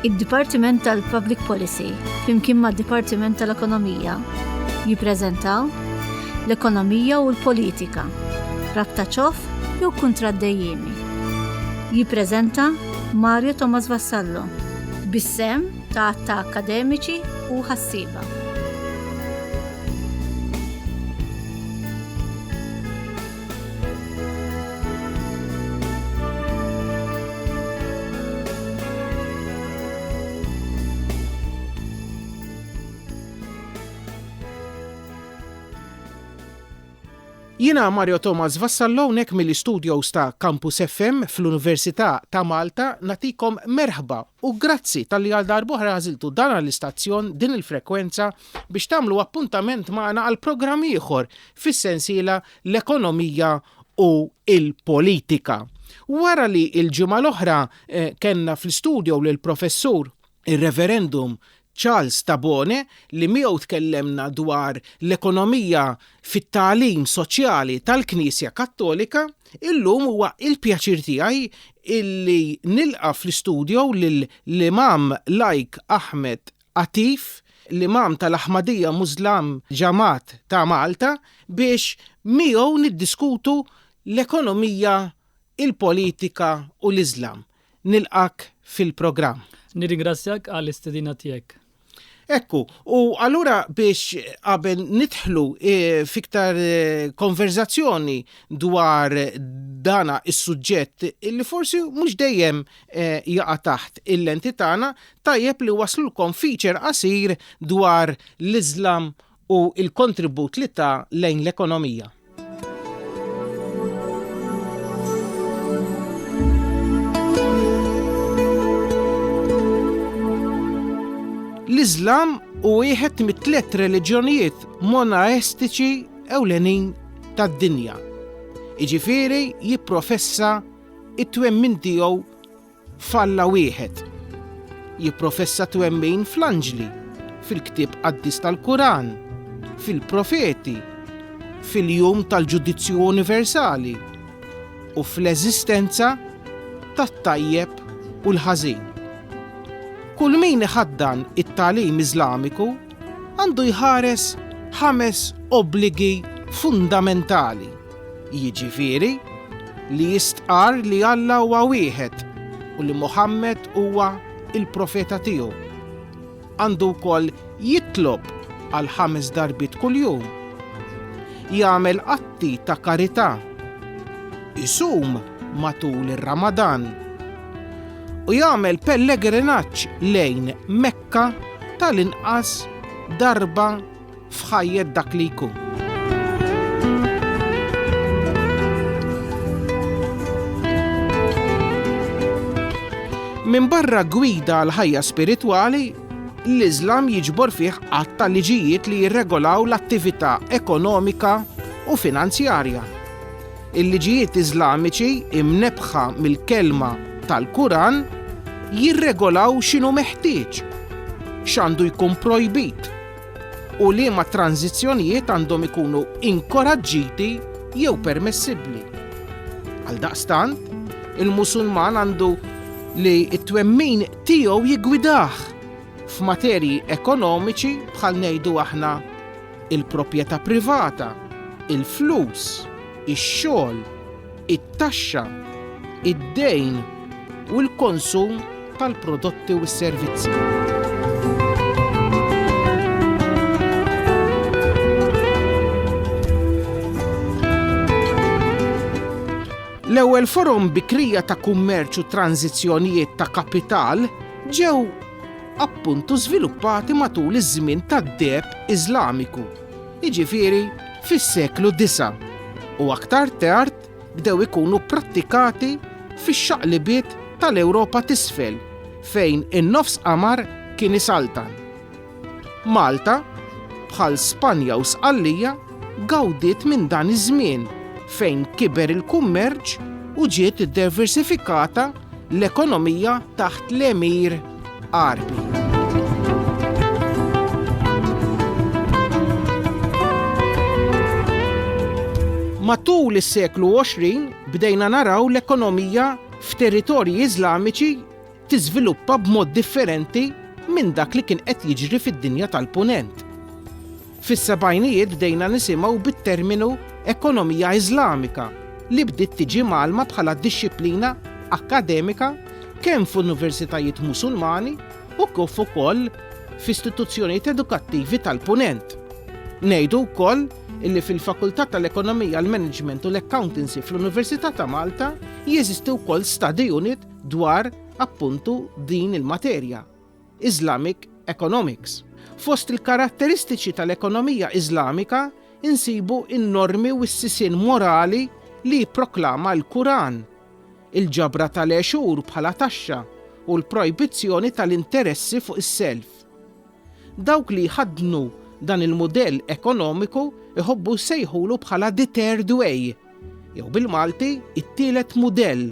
Id-Dipartiment tal-Public Policy flimkien mad-Dipartiment tal-Ekonomija jippreżentaw L-Ekonomija u l-Politika, Rabta Ċof jew Kuntratt Dejjiemi. Jippreżenta Mario Tomas Vassallo bis-sehem ta' għadd ta' akkademiċi u ħassieba. Jiena Mario Thomas Vassallo hawnhekk mill-istudios ta' Campus FM fl-Università ta' Malta nagħtikom merħba u grazzi talli għal darb'oħra għażiltu dan l-istazzjon, din il-frekwenza biex tagħmlu appuntament magħna għal programm ieħor fis-sensiela L-Ekonomija u l-Politika. Wara li l-ġimgħa l-oħra kellna fl-istudio lill-Professur ir-Reverendum Charles Tabone li miegħu tkellemna dwar l-ekonomija fit-tagħlim soċjali tal-Knisja Kattolika, illum huwa l-pjaċir tiegħi li nilqa' fl-istudio lill-Imam Lajk Ahmed attiv l-Imam tal-Aħmadija Muslim Jamaat ta' Malta biex miegħu niddiskutu l-ekonomija, il-politika u l-Islam. Nilqgħek fil-programm. Nirringrazzjak għall-istedina tiegħek. Ekku, u allura biex qabel nidħlu eh, fiktar eh, konverzazzjoni dwar dana is-suġġett li forsi mhux dejjem eh, jaqa' taħt il-lenti tagħna, Tajjeb li waslulkom feature qasir dwar l-Iżlam u l-kontribut li ta lejn l-ekonomija. L-Iżlam u wieħed mit-tliet reliġjonijiet monaestiċi ewlenin tad-dinja. Iġifieri jipprofessa it-twemmin tiegħu F'Alla wieħed. Jipprofessa twemmin fl-anġli, fil-ktieb qaddis tal-Kuran, fil-profeti, fil-jum tal-ġudizzju universali u fl-eżistenza tat-tajjeb u l-ħażin. Kull min iħaddan it-tagħlim Iżlamiku għandu jħares ħames obbligi fundamentali. jiġifieri li jistqarr li Alla huwa wieħed u li Muħammad huwa l-profeta tiegħu. Għandu wkoll jitlob għal ħames darbiet kuljum, jagħmel atti ta' karità, isum matul ir-Ramadan u jagħmel pellegrinaġġ lejn Mekka tal-inqas darba f'ħajjet dak li jkun. Minn barra gwida għal ħajja spiritwali, l-Iżlam jiġbor fih qatt ta' liġijiet li jirregolaw l-attività ekonomika u finanzjarja. Il-liġijiet Iżlamiċi imnebħa mill-kelma tal-Kuran jirregolaw x'inhu meħtieġ, x'għandu jkun projbit, u liema tranżizzjonijiet għandhom ikunu inkoraġġiti jew permessibbli. Għaldaqstant, il-Musulman għandu li t-twemmin tiegħu jiggwidah f'materji ekonomiċi bħal ngħidu aħna il-proprjetà privata, il-flus, ix-xogħol, it-taxxa, id-dejn u l-konsum tal-prodotti u s-servizzi. L-ewwel forom bikrija ta' kummerċ u tranżizzjonijiet ta' kapital ġew appuntu żviluppati matul iż-żmien tad-deb Iżlamiku. jiġifieri fis-seklu disa', u aktar tard bdew ikunu pprattikati fix-xaqlibiet tal-Ewropa t'Isfel fejn in-Nofs Qamar kien isaltan. Malta, bħal Spanja u Sqallija, gawdiet minn dan iż-żmien fejn kiber il-kummerċ u ġiet iddiversifikata l-ekonomija taħt l-Emir. Għarbi. Matul is-seklu 20 bdejna naraw l-ekonomija f'territorji Iżlamiċi tiżviluppa b'mod differenti minn dak li kien qed jiġri fid-dinja tal-Punent. Fis-sebgħinijiet bdejna nisimgħu bit-terminu ekonomija Iżlamika li bdiet tiġi mgħallma bħala dixxiplina akkademika kemm f'universitajiet Musulmani u kif ukoll f'istituzzjonijiet edukattivi tal-Punent. Ngħidu wkoll li fil-Fakultà tal-Ekonomija, l-Management u l-Accountancy fl-Università ta' Malta jeżisti wkoll study unit dwar, appuntu, din il-materja. Islamic Economics. Fost il-karatteristiċi tal-ekonomija Islamika nsibu n-normi u s-sisien morali li jipproklama l-Kuran, il-ġabra tal-għexur bħala taxxa u l-projbizzjoni tal-interessi fuq is-self. Dawk li jħaddnu dan il-mudell ekonomiku jħobbu jsejħulu bħala the third way, jew bil-Malti, it-tielet mudell,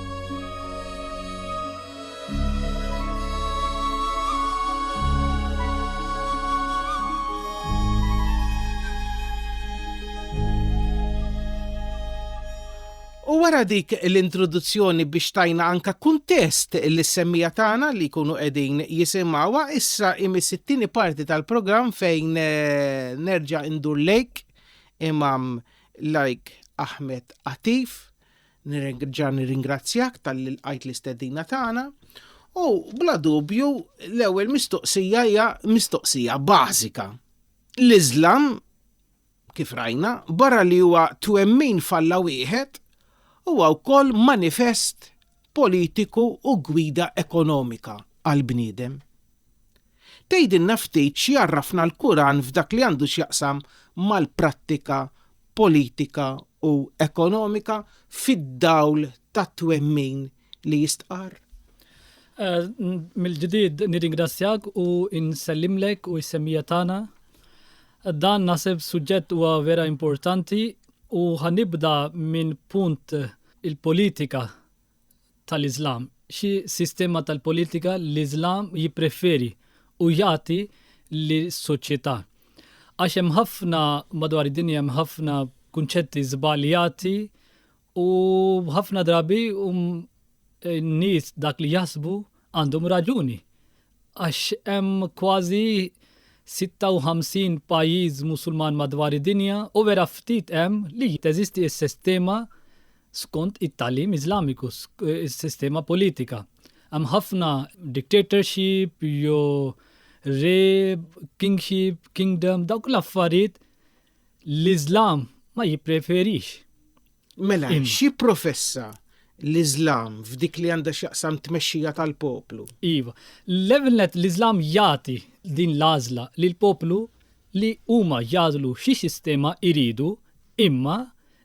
U wara dik l-introduzzjoni biex tajna anka kuntest li semmija tagħna li jkunu qegħdin jisimgħuha issa imis it-tieni parti tal-programm fejn eh, nerġa' indur lejk imam like Ahmed Atif Nirringrazzja nirringrazzjak tal-li lqajt l-istedina tagħna u bla dubju l-ewwel mistoqsija hija mistoqsija bażika. L-Iżlam kif rajna barra li huwa twemmin falla wieħed huwa wkoll manifest politiku u gwida ekonomika għall-bniedem. Tgħidilna ftit x'jgħarrafna l-Quran f'dak li għandu x'jaqsam mal-prattika politika u ekonomika fid-dawl tat-twemmin li jistqarr? Mill-ġdid nirringrazzjak u nsellimlek u s-semmiegħa tagħna. Dan naħseb suġġett huwa vera importanti u ħa nibda minn punt il-politika tal-Iżlam, xi sistema tal-politika l-Iżlam jippreferi u jagħti lis-soċjetà. Għax hemm ħafna madwar id-dinja hemm ħafna kunċetti żbaljati u ħafna drabi hum in-nies dak li jaħsbu għandhom raġuni. għax hemm kważi 56 pajjiż Musulman madwar id-dinja u vera ftit hemm li teżisti s-sistema skont it-tagħlim Iżlamiku, is-sistema politika. Hemm ħafna dictatorship jew re, kingship, kingdom, dawk l-affarijiet l-Iżlam ma jippreferix. Mela, xi professa l-Islam f'dik li għandha x'jaqsam tmexxija tal-poplu? Iva, l-evelnet l-Islam jagħti din l-għażla lil poplu li huma jagħżlu xi sistema iridu, imma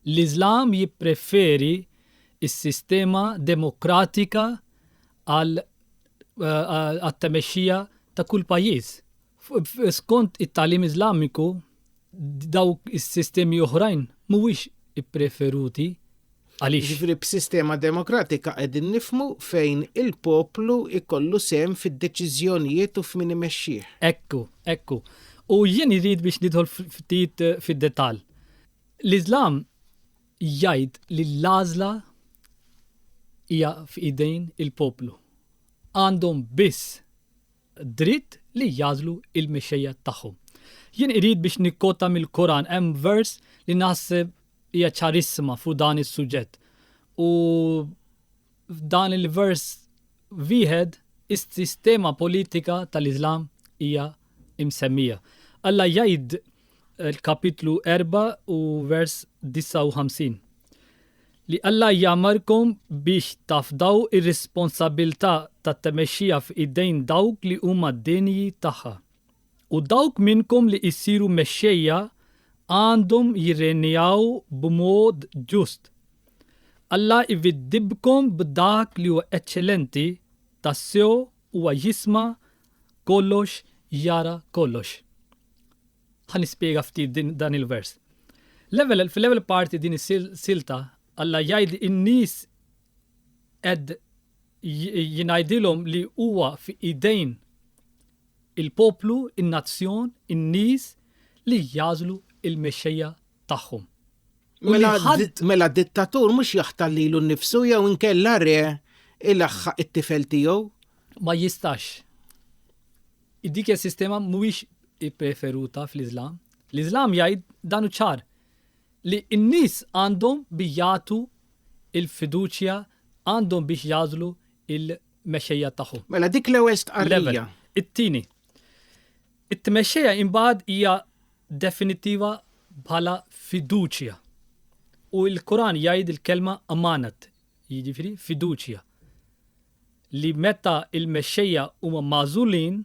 l-Islam jippreferi s-sistema demokratika għal eh, għat-temexxija ta' kull pajjiż. Skont it-tagħlim Iżlamiku, dawk is-sistemi oħrajn mhuwiex ippreferuti. Għaliex? Jiġifieri b'sistema demokratika qegħdin nifhmu fejn il-poplu jkollu sehem fid-deċiżjonijiet u f'min imexxih. Ekku, ekku. U jien irrid biex nidħol ftit fid-detall. L-Iżlam jgħid li l-għażla hija f'idejn il-poplu. Għandhom biss dritt li jagħżlu l-mexxejja tagħhom. Jien irid biex nikkota mill-Koran hemm vers li naħseb hija ċarissima fuq dan is-suġġett. U f'dan il-vers wieħed is-sistema politika tal-Iżlam hija msemmija. Alla jgħid l-kapitlu 4 u vers 59. Li Alla jagħmmarkom biex tafdaw ir-responsabbiltà tat-tmexxija f'idejn dawk li huma denji tagħha. U dawk minnkom li jsiru mexxejja għandhom jirrenjaw b'mod ġust. Alla jwiddibkom b'dak li huwa eċċellenti, tassew huwa jisma' kollox, jara kollox. Ħa nispjega ftit din dan il-vers. L-ewwel fil-ewwel parti din is-silta Alla jgħid in-nies qed jingħidilhom li huwa fi idejn il-poplu, in-nazzjon, in-nies li jagħżlu l-mexxejja tagħhom. U li Mela, ħadd di- mela dittatur mhux jaħtar lilu nnifsu jew inkella re ilaħħaq it-tifel tiegħu. ma jistax Dik hija sistema mhuwiex ippreferuta fl-Iżlam. L-Iżlam jgħid dan hu ċar li n-nies għandhom bi jagħtu l-fiduċja għandhom biex jagħżlu l-mexxejja tagħhom. Mela dik l-ewwel stqarrija. It-tieni. It-tmexxejja imbagħad hija definittiva bħala fiduċja. U l-Kuran jgħid il-kelma amanat, jiġifieri fiduċja, li meta l-mexxejja huma magħżulin,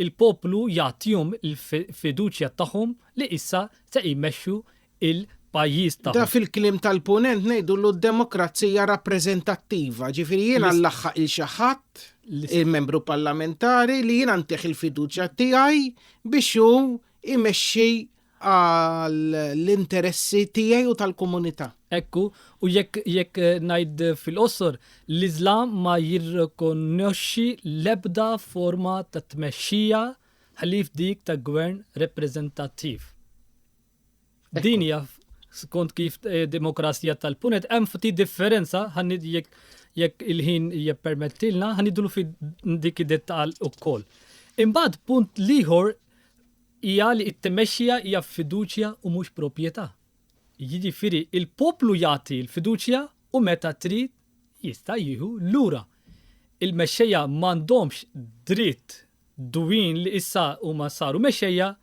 il-poplu jagħtihom il-fiduċja tagħhom li issa se jmexxu l-pajjiż tagħhom. Da fil-kliem tal-Punent ngħidulu d-demokrazija rappreżentattiva, ġifieri jiena nlaħħaq lil xi ħadd, il-membru parlamentari, li jiena ntih il-fiduċja tiegħi biex hu jmexxi għall-interessi tiegħi u tal-komunità. Hekk hu, u jekk jekk ngħid fil-qosor, l-Iżlam ma jirrikonoxxi l-ebda forma ta' tmexxija ħlief dik ta' gvern rappreżentattiv. Din hija skont kif demokrazija tal-punet hemm ftit differenza ħanni jekk jekk il-ħin jippermettilna ħanidlu fi dik id-dettall ukoll. Imbagħad punt l-ieħor hija li t-tmexxija hija f'fiduċja u mhux proprjetà. Jiġifieri l-poplu jagħti l-fiduċja u meta trid jista' jieħu lura. Il-mexxejja m'għandhomx dritt dwin li issa huma saru mexxejja,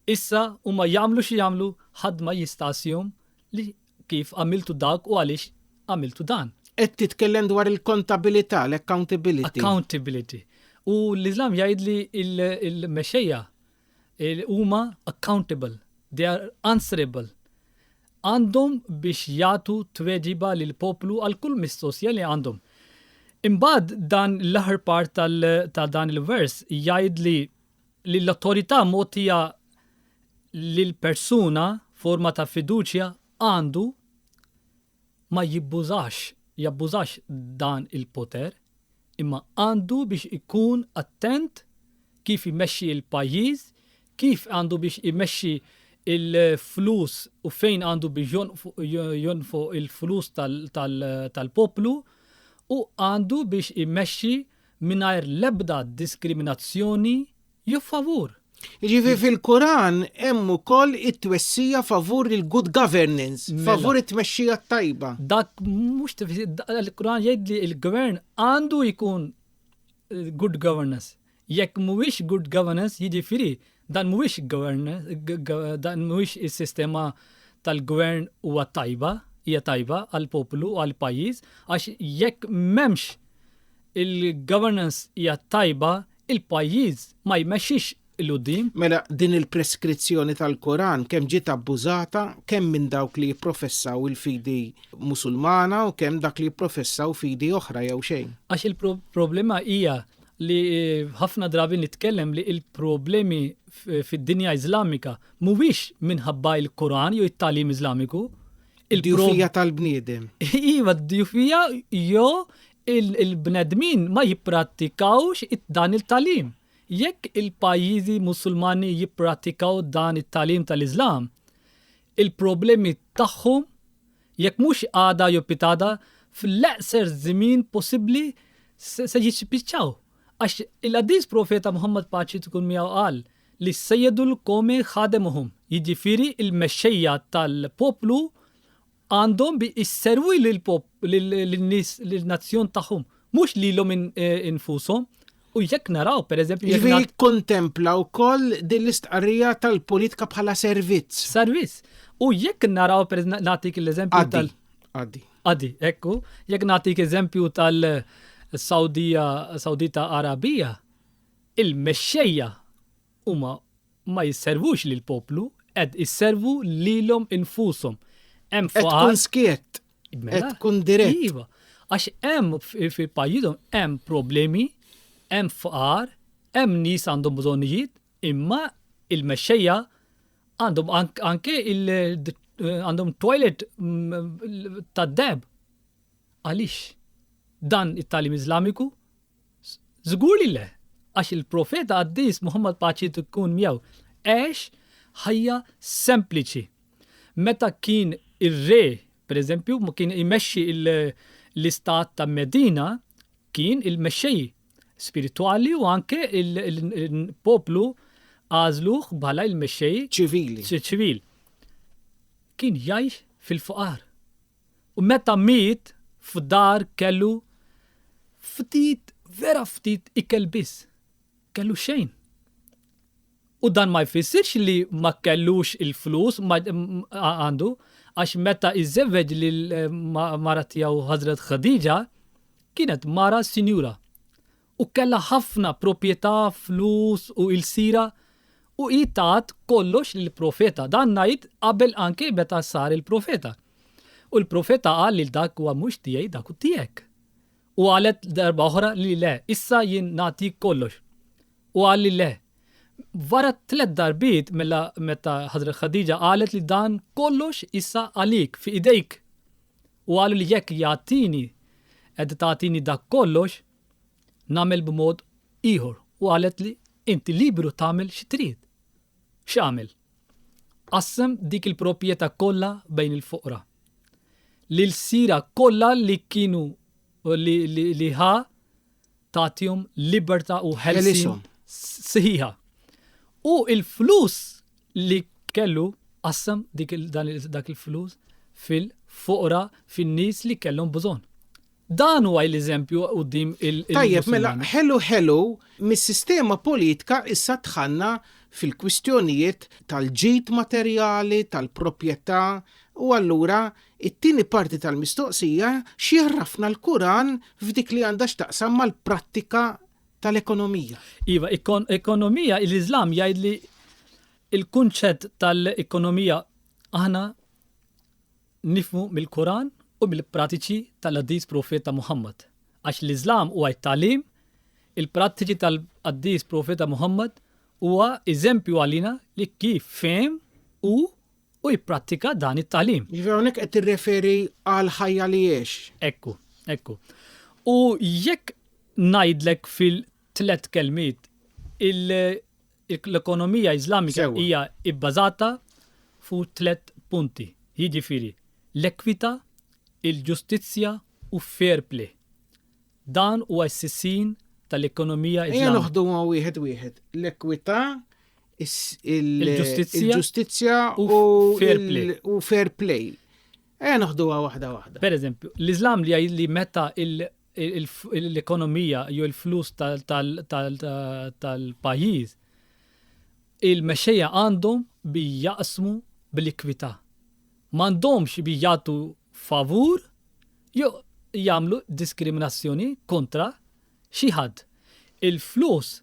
issa huma jagħmlu xi jagħmlu ħadd ma jistgħassihom li Kif għamiltu dak u għaliex għamiltu dan? Qed titkellem dwar il-kontabilità, l-accountability. Accountability. U l-Islam jgħid li l-mexxejja huma accountable, they are answerable. Għandhom biex jagħtu tweġiba lil poplu għal kull mistoqsija li għandhom. Imbagħad dan l-aħħar part ta' dan il-vers jgħid li li l-awtorità mogħtija lil persuna f'forma ta' fiduċja għandu ma jibbużax jabbużax dan il-poter imma għandu biex ikun attent kif imexxi il-pajjiż, kif għandu biex imexxi il-flus u fejn għandu biex jonfoq il-flus tal-poplu u għandu biex imexxi mingħajr l-ebda diskriminazzjoni jew favur. Jiġifieri fil-Kuran hemm ukoll it-twessija favur il-good governance, mela. favur it-tmexxija tajba. Dak mhux il-Kuran jgħid li l-gvern għandu jkun eh, good governance. Jekk mhuwiex good governance jiġifieri Dan mhuwiex dan mhuwiex is-sistema tal-gvern huwa tajba, hija tajba għall-poplu u għall-pajjiż għax jekk m'hemmx il-governance hija tajba il-pajjiż ma jmexxix il-quddiem. Mela din il-preskrizzjoni tal-Koran kemm ġiet abbużata kemm minn dawk li jipprofessaw il-fidi Musulmana u kemm dak li jipprofessaw fidi oħra jew xejn. Għax il-problema hija li ħafna drabi nitkellem li il-problemi fid-dinja Iżlamika mhuwiex minħabba il-Koran jew it-talim Iżlamiku. Il-djufija tal-bniedem. Iva, d-djufija jew il-bnedmin ma jipprattikawx dan il-talim. Jekk il-pajjiżi musulmani jipprattikaw dan it-talim tal-Iżlam, il-problemi tagħhom Jekk mhux għada jew pitada, fl-eqser żmien possibbli se jispiċċaw. Għax il-qaddis profeta Muħammad paċi tkun miegħu qal li Sejjedu l-Qowmi Ħademuhum, jiġifieri l-mexxejja tal-poplu għandhom bi jserwi lin-nies lin-nazzjon tagħhom, mhux lilhom infushom. U jekk naraw, per eżempju, jekk. Jiġifieri jikkontempla wkoll din l-istqarrija tal-politika bħala servizz. Servizz. U jekk naraw, per nagħtik l-eżempju tal. Għaddi. Għaddi, ekku. Jekk nagħtik eżempju tal-Sawdija, Sawdita Arabija, il-mexxejja Huma ma jisservux lill-poplu, qed isservu lilhom infushom. Hemm faqar. Qed tkun skiett. Qed tkun dirett. Iva, għax hemm fi pajjiżhom hemm problemi, hemm faqar, hemm nies għandhom bżonnijiet, imma il-mexxejja għandhom anke għandhom toilet tad-deheb. Għaliex? Dan it-tagħlim Iżlamiku Żgur li le, għax il-Profeta qaddis Muħammad paċi tkun miegħu għex ħajja sempliċi. Meta kien ir-re, pereżempju, ma kien imexxi l-istat ta' Medina, kien il-mexxej spiritwali u anke l-poplu għażluh bħala l-mexxej ċivil. Kien jgħix fil-faqar. U meta miet, f'dar kellu ftit, vera ftit ikel biss. Kellu xejn. U dan ma jfissirx li ma kellux il-flus, għandu, għax meta iżżewweġ lill-mara tiegħu Ħażret Ħadiġa, kienet mara sinjura. u kellha ħafna propjetà, flus u ilsiera, u hi tat kollox lill-profeta. Dan ngħid qabel anke meta sar il-profeta. U l-profeta qal lil dak huwa mhux tiegħi dak hu tiegħek. U qalet darba oħra li le, issa jien nagħtik kollox. U qal li le. Wara tliet darbiet mela meta Ħażret Khadija qalet li dan kollox issa għalik, fi idejk. U qalu li jekk jagħtini qed tagħtini dak kollox, nagħmel b'mod ieħor u qalet li inti liberu tagħmel xi trid. X'għamel? Qassem dik il-proprjetà kollha bejn il-foqra. L-ilsira kollha li kienu li, li, li ħa tagħtihom libertà u ħelsin sħiħa. U il-flus li kellu qassem dik dak il-flus fil-foqra fin-nies li kellhom bżonn. Dan huwa l-eżempju quddiem il-Musulmani. Tajjeb, mela ħelu ħelu, mis-sistema politka issa dħalna fil-kwistjonijiet tal-ġid materjali, tal-proprjetà, u allura t-tieni parti tal-mistoqsija x'jgħarrafna l-Kuran f'dik li għandha x'taqsam mal-prattika tal-ekonomija? Iva, ekonomija, l-Iżlam jgħid li l-kunċett tal-ekonomija aħna nifhmu mill-Quran u mill-pratiċi tal-Qaddis Profeta Muħammad, għax l-Iżlam huwa t-tagħlim, il-prattiċi tal-Qaddis Profeta Muħammad huwa eżempju għalina li kif fehem hu u jipprattika dan it-tagħlim. Jiġifieri hawnhekk qed tirreferi għal ħajja li għex. Ekku, ekku. U jekk ngħidlek fil-tlet kelmiet il- L-ekonomija Iżlamika hija bbażata fuq tliet punti, jiġifieri l-ekwità, il-ġustizzja u fair play. Dan huwa s-sissin tal-ekonomija Iżlamika. Ejja noħduhom wieħed wieħed, l-ekwità, il-ġustizzja u fair play. Ejja noħduha waħda waħda. Pereżempju, l-Iżlam li jgħid li meta l-ekonomija jew il-flus tal-pajjiż, il-mexxejja għandhom bi jaqsmu bl-ikwità. M'għandhomx bi jagħtu favur jew jagħmlu diskriminazzjoni kontra xi ħadd. Il-flus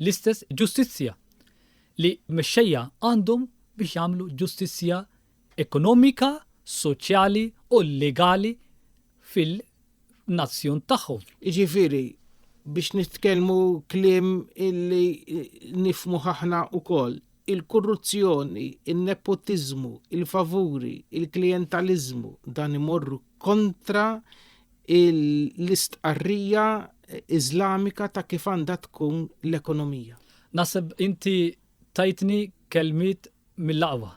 l-istess ġustizzja li mexxejja għandhom biex jagħmlu ġustizzja ekonomika, soċjali u legali fil-nazzjon tagħhom. Jiġifieri, biex nitkellmu kliem illi nifhmuh aħna wkoll, il-korruzzjoni, in-nepotiżmu, il-favuri, il-klijentaliżmu, dan imorru kontra l-istqarrija Iżlamika ta' kif għandha tkun l-ekonomija. Naħseb inti tajtni kelmiet mill-aqwa.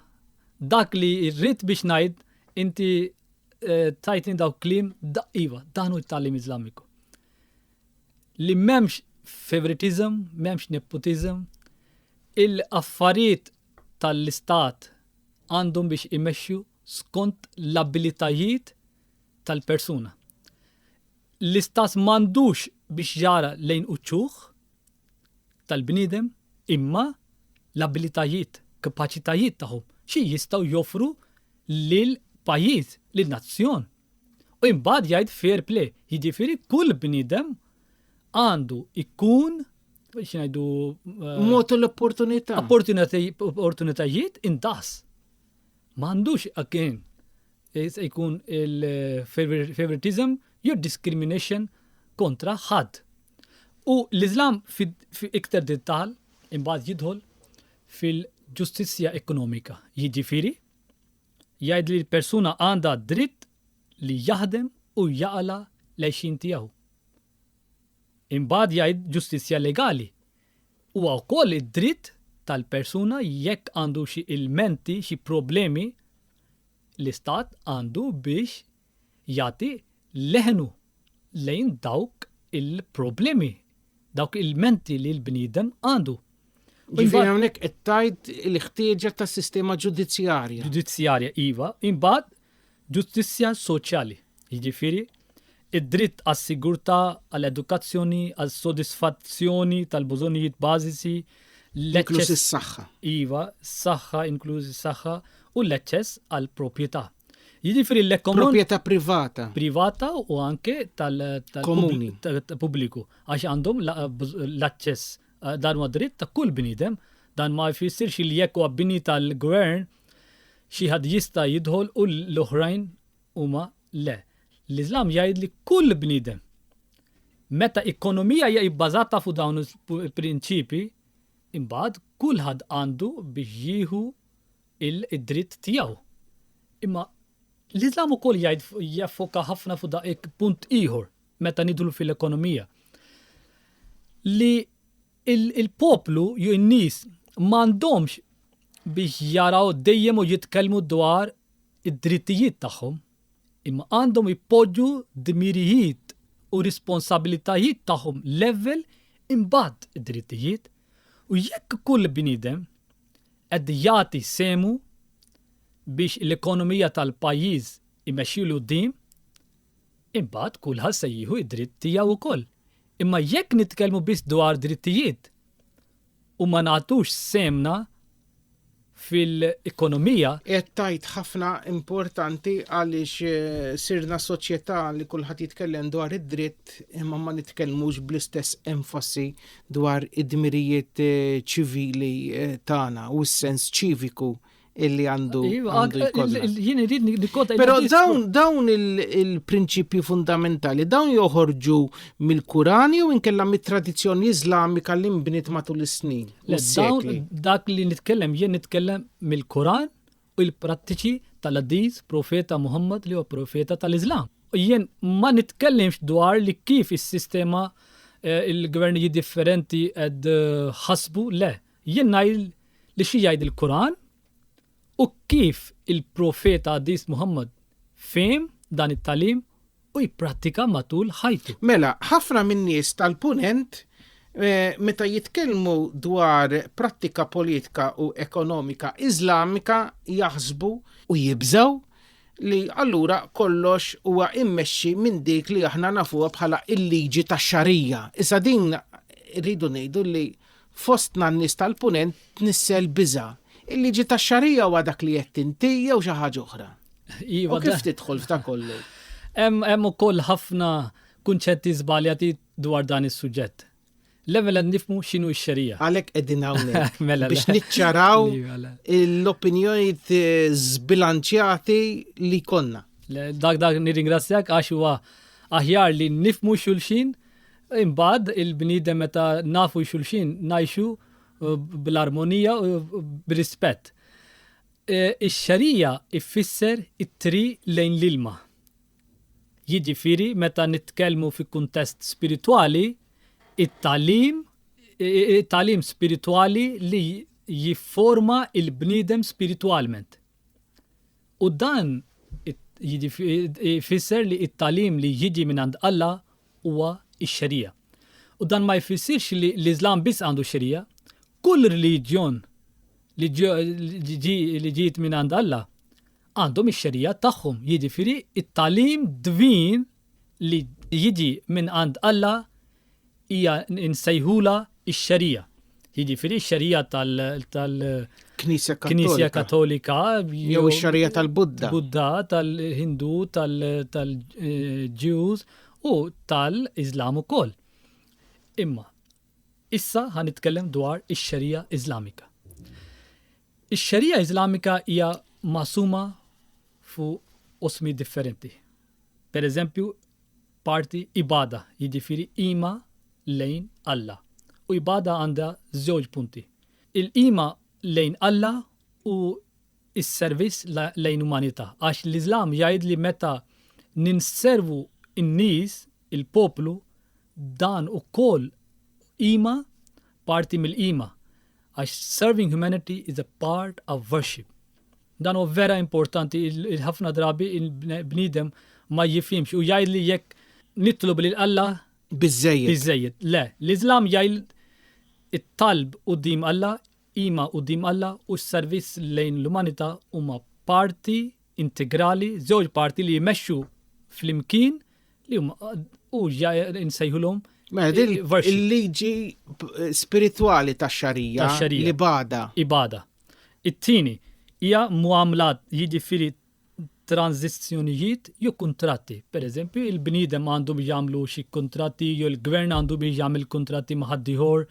Dak li rrid biex ngħid inti eh, tajtni dawk kliem daqqiva, dan hu t-tagħlim Iżlamiku. Li m'hemmx favoritism, m'hemmx nepotism, il-affarijiet tal-istat għandhom biex imexxu skont l-abilitajiet tal-persuna. L-Istat m'għandux biex jara lejn uċuħ tal-bniedem imma l-abilitajiet, kapaċitajiet tagħhom, xi jistgħu joffru lil pajjiż, lil nazzjon. U imbagħad jgħid fair play, jiġifieri kull bniedem għandu ikun xinajdu. Eh, Motu l-opportunità. Opportunitajiet intas. Mandux għakien Se jkun il-favoritism jew discrimination kontra ħadd. U l-Iżlam iktar dettal imbagħad jidħol fil-ġustizzja ekonomika, jiġifieri jgħid li l-persuna għandha dritt li jaħdem u jaqla' l-għixien tiegħu. Imbagħad jgħid ġustizzja legali, Huwa wkoll id-dritt tal-persuna jekk għandu xi ilmenti, xi problemi, l-Istat għandu biex jagħti leħnu lejn dawk il-problemi, dawk ilmenti li l-bniedem għandu. Ġifieri hawnhekk qed tgħid il-ħtieġa ta' sistema ġudizzjarja. Ġudizzjarja, iva. Imbagħad Ġustizzja soċjali, jiġifieri, id-dritt għas-sigurtà, għall-edukazzjoni, għas-sodisfazzjoni tal-bużonjijiet bażiċi, Inkluż is-saħħa. Iva, s-saħħa, inkluż is-saħħa, u l-eċċess għall-propjetà. Jiġifieri l-ekonom-. Propjetà privata. Privata u anke tal-. Komuni. Pubbliku. Għax għandhom l-aċċess. Dan huwa dritt ta' kull bniedem. Dan ma jfissirx li jekk huwa bini tal-gvern Xi ħadd jista' jidħol u l-oħrajn huma le. L-Iżlam jgħid li kull bniedem, meta ekonomija hija bbażata fuq dawn il-prinċipji, imbagħad kulħadd għandu biex jieħu d-dritt tiegħu. Imma l-Iżlam ukoll jgħid jaffoka ħafna fuq dak punt ieħor meta nidħlu fil-ekonomija. Li Il-poplu jew in-nies m'għandhomx biex jaraw dejjem u jitkellmu dwar id-drittijiet tagħhom, imma għandhom ipoġġu d-dmirijiet u r-responsabilitajiet tagħhom level imbagħad id-drittijiet u jekk kull bniedem qed jagħti sehmu biex l-ekonomija tal-pajjiż imexxi 'l quddiem, Imbagħad kulħadd se jieħu d-dritt tiegħu wkoll. Imma jekk nitkellmu biss dwar drittijiet u ma nagħtux sehemna fil-ekonomija, Qed tgħid ħafna importanti għaliex sirna soċjetà li kulħadd jitkellem dwar id-dritt imma ma nitkellmux bl-istess enfasi dwar id-dmirijiet ċivili tagħna u s-sens ċiviku illi għandu għandu jkollna. Jien irid nikkota. Però dawn dawn il-prinċipji fundamentali dawn joħorġu mill-Kuran jew inkella mit-tradizzjoni Iżlamika li nbniet matul is-snin. Dawn dak li nitkellem jien nitkellem mill-Kuran u l-prattiċi tal-Adiz profeta Muhammad li huwa profeta tal-Iżlam. U jien ma nitkellimx dwar li kif is-sistema eh, il-gvernijiet differenti qed eh, ħasbu le Jien ngħid li xi jgħid il-Quran u kif il-Profeta Qaddis Muhammad fehim dan it-tagħlim u jipprattika matul ħajtu. Mela, ħafna min-nies tal-Punent meta jitkellmu dwar prattika politika u ekonomika Iżlamika jaħsbu, u jibżgħu, li allura kollox huwa mmexxi minn dik li aħna nafuha bħala l-liġi tax-Xarija. Issa din irridu ngħidu li Fostna n-nies tal-Punent tnissel biża'. Il-liġi tax-Xarija huwa dak li għedt inti jew xi ħaġa oħra? Iva. U kif tidħol f'da kollu? Hemm ukoll ħafna kunċetti żbaljati dwar dan is-suġġett. L-ewwel qed nifhmu x'inhu x-xerija. Għalhekk qegħdin hawnhekk mela, biex niċċaraw mela. l-opinjonijiet eh, żbilanċjati li konna. Dak dak nirringrazzjak għax huwa aħjar li nifmu xulxin Imbagħad il-bniedem meta nafu xulxin ngħixu bl-armonija u b'rispett. Ix-xarija jfisser it-triq lejn l-ilma. Jiġifieri meta nitkellmu fi kuntest spiritwali, it-tagħlim tagħlim spiritwali li jifforma l-bniedem spiritwalment. U dan jfisser li t-tagħlim li jiġi minn għand Alla huwa x-Xerija. U dan ma jfissirx li l-Iżlam biss għandu x-Xerija. Kull reliġjon li ġiet minn għand Alla għandhom ix-Xerija tagħhom, jiġifieri t-tagħlim dvin li jiġi minn għand Alla hija nsejħulha x-Xerija. Jiġifieri x-Xerija tal- Knisja Katolika. Knisja Katolika. Jew ix-Xerija tal-Budda. Budda, tal-Hindu, tal-Ġews u tal-Iżlam ukoll. Imma issa ħan nitkellem dwar ix-Xerija Iżlamika. Ix-Xerija Iżlamika hija masuma fuq osmi differenti. Per eżempju, Parti ibada, jiġifieri qima lejn Alla. U ibada għandha żewġ punti. Il-qima lejn Alla u s-servizz lejn umanità. Għax l-Iżlam jgħid li meta ninservu n-nies, il-poplu, dan ukoll qima, parti mill-qima. Għax serving humanity is a part of worship. Dan huwa vera importanti, il-ħafna drabi il-bniedem ma jifhimx u jgħid li jekk nitlob lil Alla biżejjed. Biżejjed. Le, l-Iżlam jgħid it-talb quddiem Alla, qima quddiem Alla u s-servizz lejn l-umanità huma parti integrali, żewġ parti li jmexxu flimkien li huma u nsejħulhom Mela, il-liġi spiritwali ta' xarija li bada. Ibada. It-tieni hija mgħammla jiġifieri tranżizzjonijiet jew kuntratti. Pereżempju, il-bniedem għandu biex jagħmlu xi kuntratti jew il-gvern għandu biex jagħmel kuntratti ma' ħaddieħor.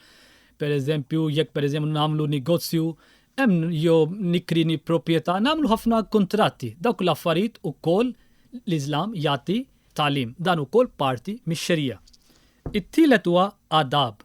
Pereżempju, jekk pereżempju nagħmlu negozju, hemm jew nikrini proprjetà, nagħmlu ħafna kuntratti. Dawk l-affarijiet ukoll l-Iżlam jagħti tagħlim. Dan ukoll parti mix-Xerija. It-tielet huwa adab,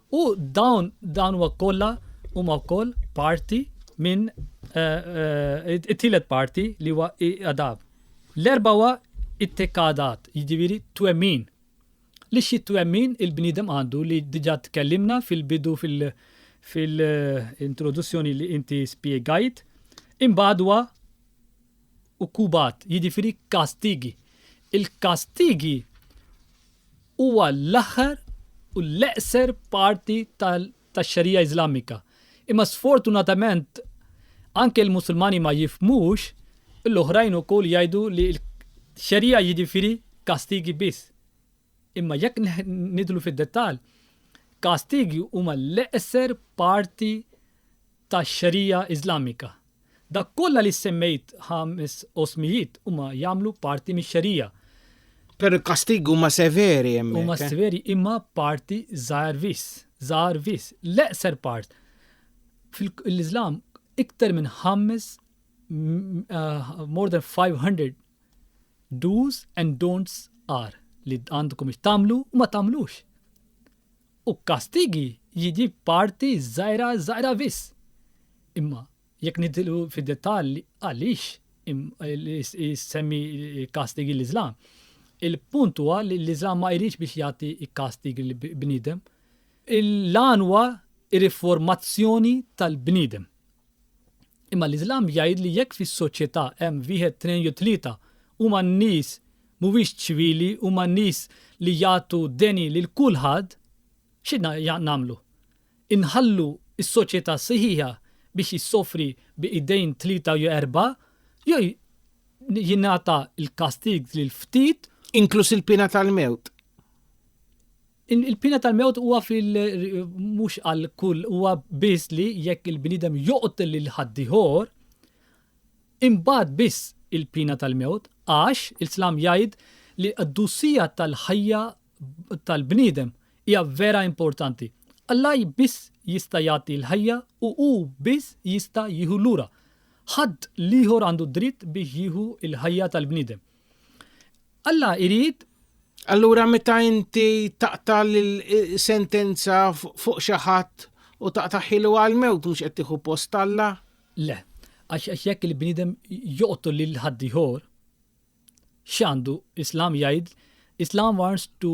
U dawn dawn huwa kollha huma wkoll parti minn it-tielet parti li huwa adab. L-erba' huwa it-tekadat, jiġifieri twemmin. Li xi twemmin il-bniedem għandu li diġà tkellimna fil-bidu fil-introduzzjoni li inti spjegajt, imbagħad huwa ukubat, jiġifieri kastigi. Il-kastigi huwa l-aħħar u l-eqser parti tax-Xarija Iżlamika. Imma sfortunatament anke l-Musulmani ma jifhmux u l-oħrajn ukoll jgħidu li Xarija jiġifieri kastigi biss. Imma jekk nidħlu fid-dettall, kastigi huma l-eqser parti tax-Xarija Iżlamika. Dak kollha li semmejt ħames osmijiet huma jagħmlu parti mix-xerija. Però l-kastigi huma severi hemmhekk. Huma severi imma parti żgħar viss, żgħar viss, l-eqser part. Fil-Iżlam iktar minn ħames more than 500 do's and don'ts are li għandkom tagħmlu u ma tagħmlux. U kastigi jidhi parti żgħira żgħira biss. Imma jekk nidħlu fid-dettalji għaliex jsemmi kastigi l-Iżlam, il-punt huwa li l-Iżlam ma jridx biex jagħti kastigi lil bniedem. L-għan huwa r-riformazzjoni tal-bniedem. Imma l-Iżlam jgħid li jekk fis-soċjetà hemm wieħed, tnejn jew tlieta huma nies mhuwiex ċivili, huma nies li jagħtu deni lil kulħadd, xi nagħmlu? Inħallu s-soċjetà sħiħa biex issofri bi idejn tlieta jew erbgħa jew jingħata l-kastig lil ftit, inkluż il-piena tal-mewt, Il-piena tal-mewt huwa fil mhux għal kull huwa biss li jekk il-bniedem joqtel lil ħaddieħor, imbagħad biss il-piena tal-mewt għax il-Islam jgħid li l-qdusija tal-ħajja tal-bniedem hija vera importanti. Alla biss jista' jagħti l-ħajja u hu biss jista' jieħu lura. Ħadd l-ieħor għandu d-dritt biex jieħu l-ħajja tal-bniedem. Alla irid Allura meta inti taqta' l-sentenza fuq xi ħadd u taqta' ħilu għall-mewt mhux qed tieħu post Alla? Le, għax jekk il-bniedem joqtol lil ħaddieħor, x'għandu Islam jgħid Islam wants to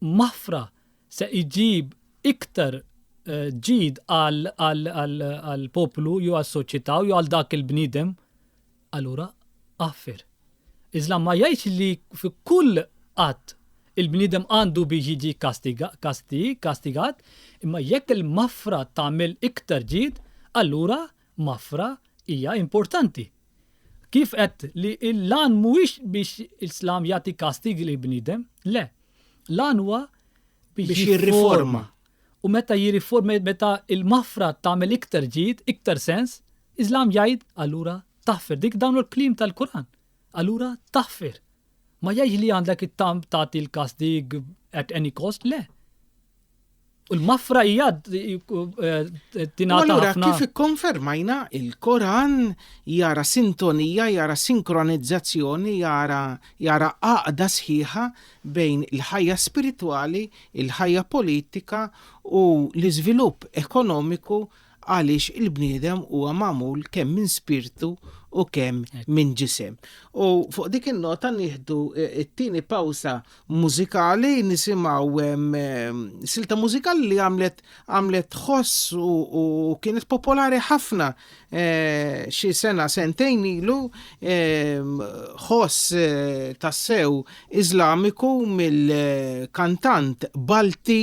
Mafra se iġib iktar ġid għall-poplu jew għas-soċjetà jew għal dak il-bniedem, allura għaffir. Iżlam ma jgħidx li fi kull att il-bniedem għandu biex jiġi kastigat, imma jekk il-mafra tagħmel iktar ġid, allura Mafra hija importanti. Kif għedt li l-għan mhuwiex biex l-Islam jagħti kastig lil bniedem, le. L-għan huwa biex jirriforma. U meta jirriforma meta l-mafra tagħmel iktar ġid, iktar sens, Islam jgħid allura taħfir dik dawn il-kliem tal-Quran. Allura taħfir. Ma jgħidx li għandek it-tam tagħti l-kastig at any cost, le. U l-mafra hija eh, tingħata. Allura kif ikkonfermajna il-Koran jara sintonija, jara sinkronizzazzjoni, jara jara għaqda sħiħa bejn il-ħajja spiritwali, il-ħajja politika u l-iżvilupp ekonomiku għaliex il-bniedem huwa magħmul kemm minn spirtu u kemm minn ġisem. U fuq dik in-nota nieħdu eh, it-tieni pawsa mużikali nisimgħu ehm, ehm, silta mużikali li għamlet għamlet ħoss u kienet popolari ħafna eh, xi sena sentejn ilu ehm, ħoss eh, tassew Iżlamiku mill-kantant Balti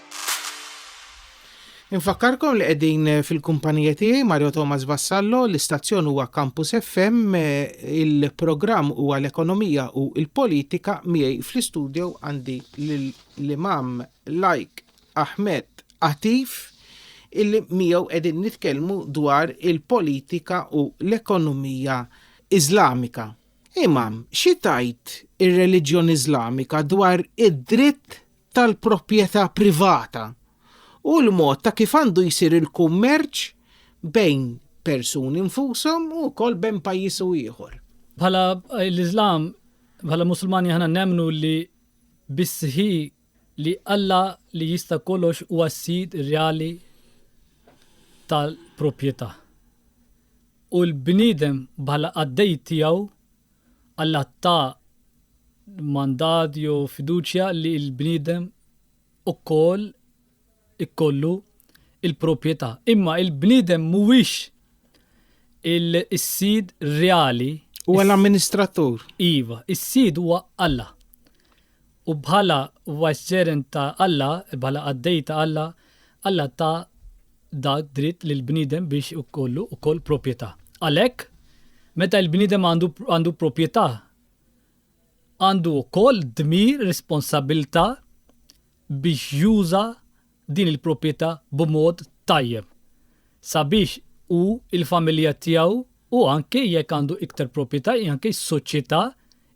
Infakkarkom li qegħdin fil-kumpanija tiegħi Mario Thomas Vassallo, l-istazzjon huwa Campus FM, il-programm huwa l-ekonomija u l-politika miegħi fl-istudio għandi l-Imam Lajk Ahmed Atif illi miegħu qegħdin nitkellmu dwar il-politika u l-ekonomija Iżlamika. Imam, xi tgħid ir-reliġjon Iżlamika dwar id-dritt tal-proprjetà privata u l-mod ta' kif għandu jsir il-kummerċ bejn persuni nfushom u wkoll bejn pajjiż u ieħor. Bħala l-Iżlam, bħala Musulmani aħna nemmnu li bis-sħiħ li Alla li jista' kollox huwa s-sid reali tal-proprjetà. U l-bniedem bħala qaddej tiegħu Alla ta mandat jew fiduċja li l-bniedem ukoll ikollu l-proprjetà. Imma l-bniedem mhuwiex is-sid reali. Huwa l-amministratur. Iva, is-sid huwa Alla. U bħala vicegerent ta' Alla, bħala qaddej ta' Alla, Alla ta da dritt lill-bniedem biex ikollu wkoll propjetà. Għalhekk, meta l-bniedem għandu għandu propjetà, għandu wkoll dmir, responsabbiltà biex juża din il-propjetà b'mod tajjeb sabiex hu, il-familja tiegħu u anke jekk għandu iktar propjetà, anke s-soċjetà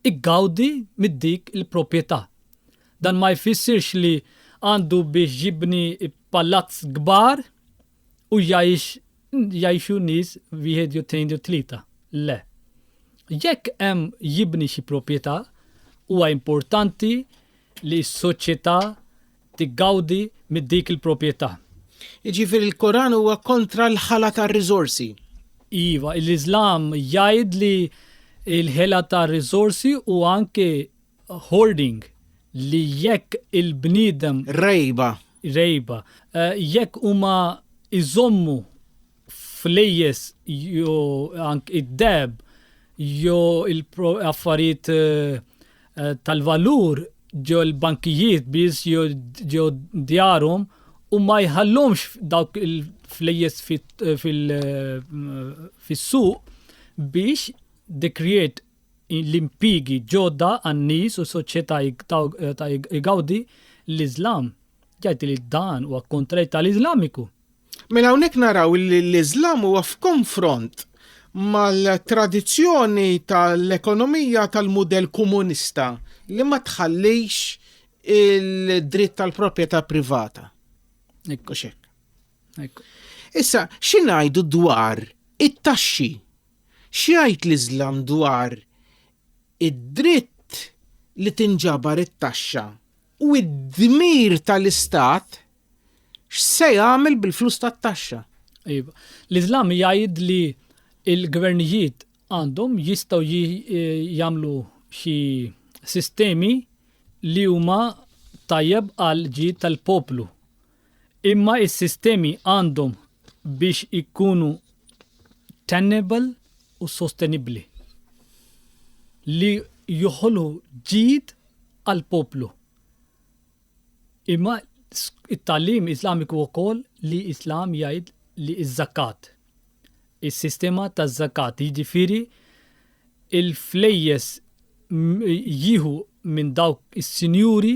iggawdi mid-dik il-propjetà. Dan ma jfissirx li għandu biex jibni Palazz kbar u jgħix jgħixu nies wieħed jew tnejn jew tlieta. Le. Jekk hemm jibni xi propjetà, huwa importanti li s-soċjetà tiggawdi minn dik il-propjetà. Jiġifieri l-Koran huwa kontra l-ħela ta' riżorsi? Iva, l-Iżlam jgħid li l-ħela ta' riżorsi u anke Hoarding li jekk il-bniedem. Rejba. Rejba. Eh, jekk huma iżommu flejjes jo ank id-deb jo il-affarijiet eh, eh, tal-valur ġo l-bankijiet biss ġo djarhom u ma jħallhomx dawk il-flejjes fis-suq biex they create l-impjiegi ġodda għan-nies u soċjetà ta' igawdi l-Iżlam, jgħid li dan huwa kontrarju tal-Iżlamiku. Mela hawnhekk naraw li l-Iżlam huwa f'konfront mal-tradizzjoni tal-ekonomija tal-mudell komunista li ma tħallix il-dritt tal-proprjetà privata. Hekk hux hekk. Issa, xi ngħidu dwar it-taxxi X'jgħid l-Iżlam dwar id-dritt li tinġabar it-taxxa u d-dmir tal-Istat x'se jagħmel bil-flus tat-taxxa? Iva. L-Iżlam jgħid li l-gvernijiet għandhom, jistgħu jagħmlu xi sistemi li huma tajjeb għall-ġid tal-poplu. Imma s-sistemi għandhom biex ikunu tenable u sostenibbli li joħolqu ġid għall-poplu. Imma t-tagħlim Iżlamiku wkoll li l-Islam jgħid li ż-żakat, is-sistema taż-żakat, jiġifieri l-flejjes jieħu minn dawk is-sinjuri,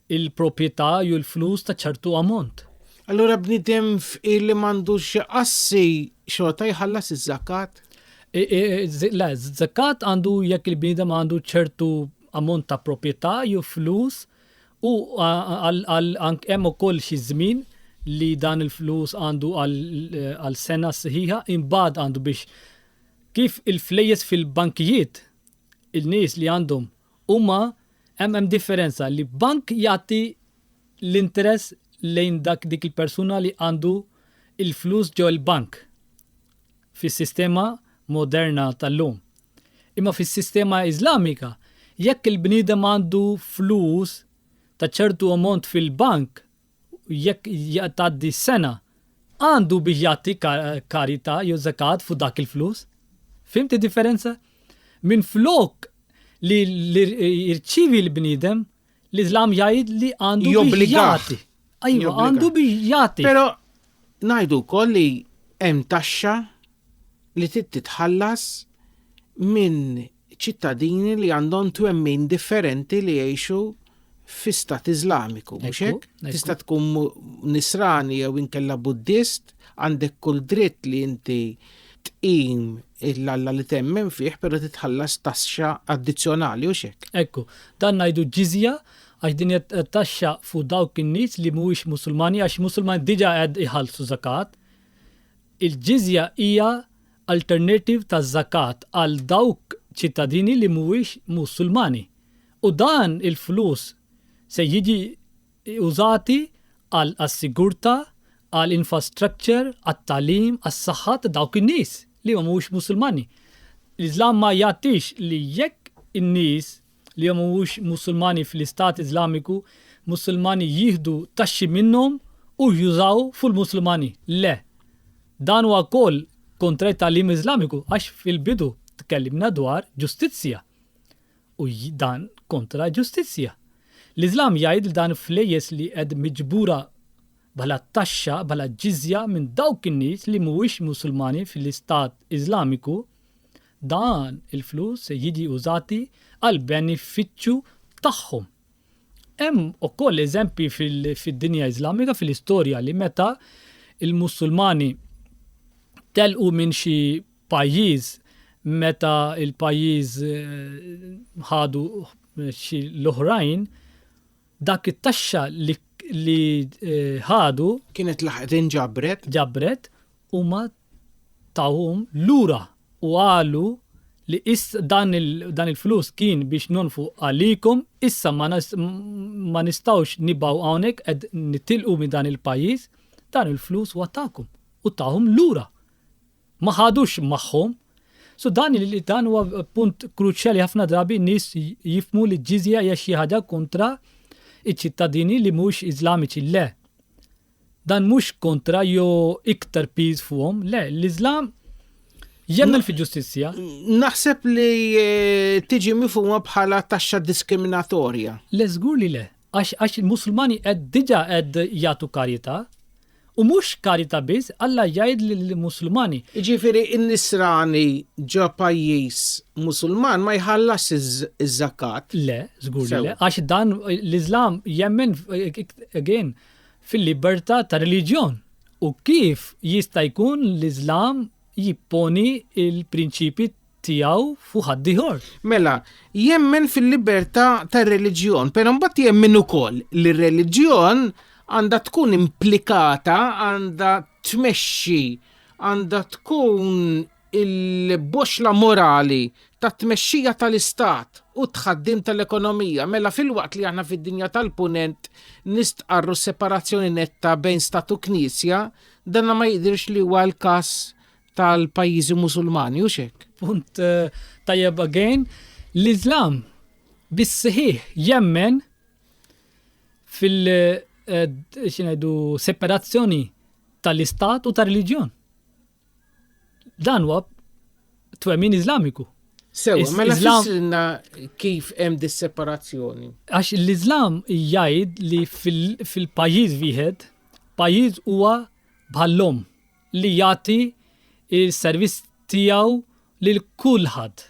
il-proprjetà jew l-flus ta' ċertu ammont. Allura bniedem fqir li m'għandux xi assi xorta jħallas iż-żakat? Le, żakat għandu jekk il-bniedem għandu ċertu ammont ta' proprjetà jew flus u hemm ukoll xi żmien li dan il-flus għandu għal sena sħiħa imbagħad għandu biex kif il-flejjes fil-bankijiet il-nies li għandhom Huma hemm hemm differenza li bank jagħti l-interess lejn dak dik il-persuna li għandu l-flus ġo l-bank fis-sistema moderna tal-lum. Imma fis-sistema Iżlamika jekk il-bniedem għandu flus ta' ċertu ammont fil-bank jekk tgħaddi sena, għandu biex jagħti karita jew zakat fuq dak il-flus. Fimti differenza? Minn flok li jirċivi l-bniedem, l-Islam jgħid li għandu biex jagħti. Ajwa, għandu biex jagħti. Però ngħidu wkoll li hemm taxxa li trid titħallas minn ċittadini li għandhom twemmin differenti li jgħixu fi stat Iżlamiku, mhux Ekku, hekk? ekku. Tista' tkun mu- nisrani jew inkella Buddist, għandek kull dritt li inti tqim l-Alla li temmen fih, però titħallas taxxa addizzjonali, hux hekk? Ekku, dan ngħidu ġiżja għax din hija t- taxxa fuq dawk in-nies li mhuwiex Musulmani għax Musulmani diġà qed iħallsu żakat. Il-ġiżja hija alternattiv taz-zakat għal dawk ċittadini li mhuwiex Musulmani u dan il-flus se jiġi użati għal għas-sigurta, għal infrastructure, għat-tagħlim, għas-saħħa ta' dawk in-nies li mhuwiex Musulmani. L-Iżlam ma jgħaddix li jekk in-nies li huma mhumiex Musulmani fl-Istat Iżlamiku, Musulmani jieħdu taxxi minnhom u jużaw fuq il-Musulmani. Le. Dan huwa wkoll kontra t-tagħlim Iżlamiku għax fil-bidu tkellimna dwar ġustizzja u dan kontra ġustizzja. L-Iżlam jgħid li dan flejjes li qed miġbura bħala taxxa, bħala ġiżja minn dawk in-nies li mhuwiex Musulmani fl-Istat Iżlamiku, Dan il-flus se jiġi użati għall-benefiċċju tagħhom. Hemm ukoll eżempji fid-dinja Iżlamika, fil-istorja li meta l-Mussulmani telqu minn xi pajjiż meta l-pajjiż ħadu xi l-oħrajn, dak it-taxxa li ħadu. Kienet laħqet inġabret. Ġabret Huma tawhom lura u qalu li dan il-flus kien biex nonfqu għalikom, issa ma nistgħux nibqgħu hawnhekk qed nitilqu minn dan il-pajjiż, dan il-flus huwa tagħkom u tawhom lura. Ma ħadux magħhom. So dan dan huwa punt kruċjali ħafna drabi nies jifmu li ġizja hija xi ħaġa kontra iċ-ċittadini li mhux Iżlamiċi le. Dan mhux kontra jew iktar piż fuqhom, le, l-Iżlam jemmen fi ġustizzja. Naħseb li eh, tiġi mifhuma bħala taxxa diskriminatorja. Le żgur li le, għax il-Musulmani qed diġà qed jagħtu karità U mhux karita biss, Alla jgħid lill-Musulmani. Ġifieri n-nisrani ġo pajjiż Musulman ma jħallas iż-żakat. Le, żgur le, għax dan l-Iżlam jemmen again fil-libertà ta' reliġjon u kif jista' jkun l-Iżlam jipponi l-prinċipji tiegħu fuq ħaddieħor? Mela, jemmen fil-libertà ta' reliġjon, però mbagħad jemmen ukoll li r-reliġjon għandha tkun implikata, għandha tmexxi, għandha tkun il-boxxla morali tat-tmexxija tal-istat u t-tħaddim tal-ekonomija, mela filwaqt li aħna fid-dinja tal-Punent nistqarru s-separazzjoni netta bejn stat u knisja, dan ma jidhirx li huwa l-każ tal-pajjiżi Musulmani, hux hekk? Punt tajjeb again. L-Iżlam bis-sħiħ jemmen fil- xi ngħidu separazzjoni tal-istat u tar-reliġjon. Dan huwa twemmin Iżlamiku. Sewa, ma mela nafxilna kif hemm dis-separazzjoni. Għax l-Iżlam jgħid li fil-pajjiż wieħed, pajjiż huwa bħallhom li jagħti il-servizz tiegħu lil kulħadd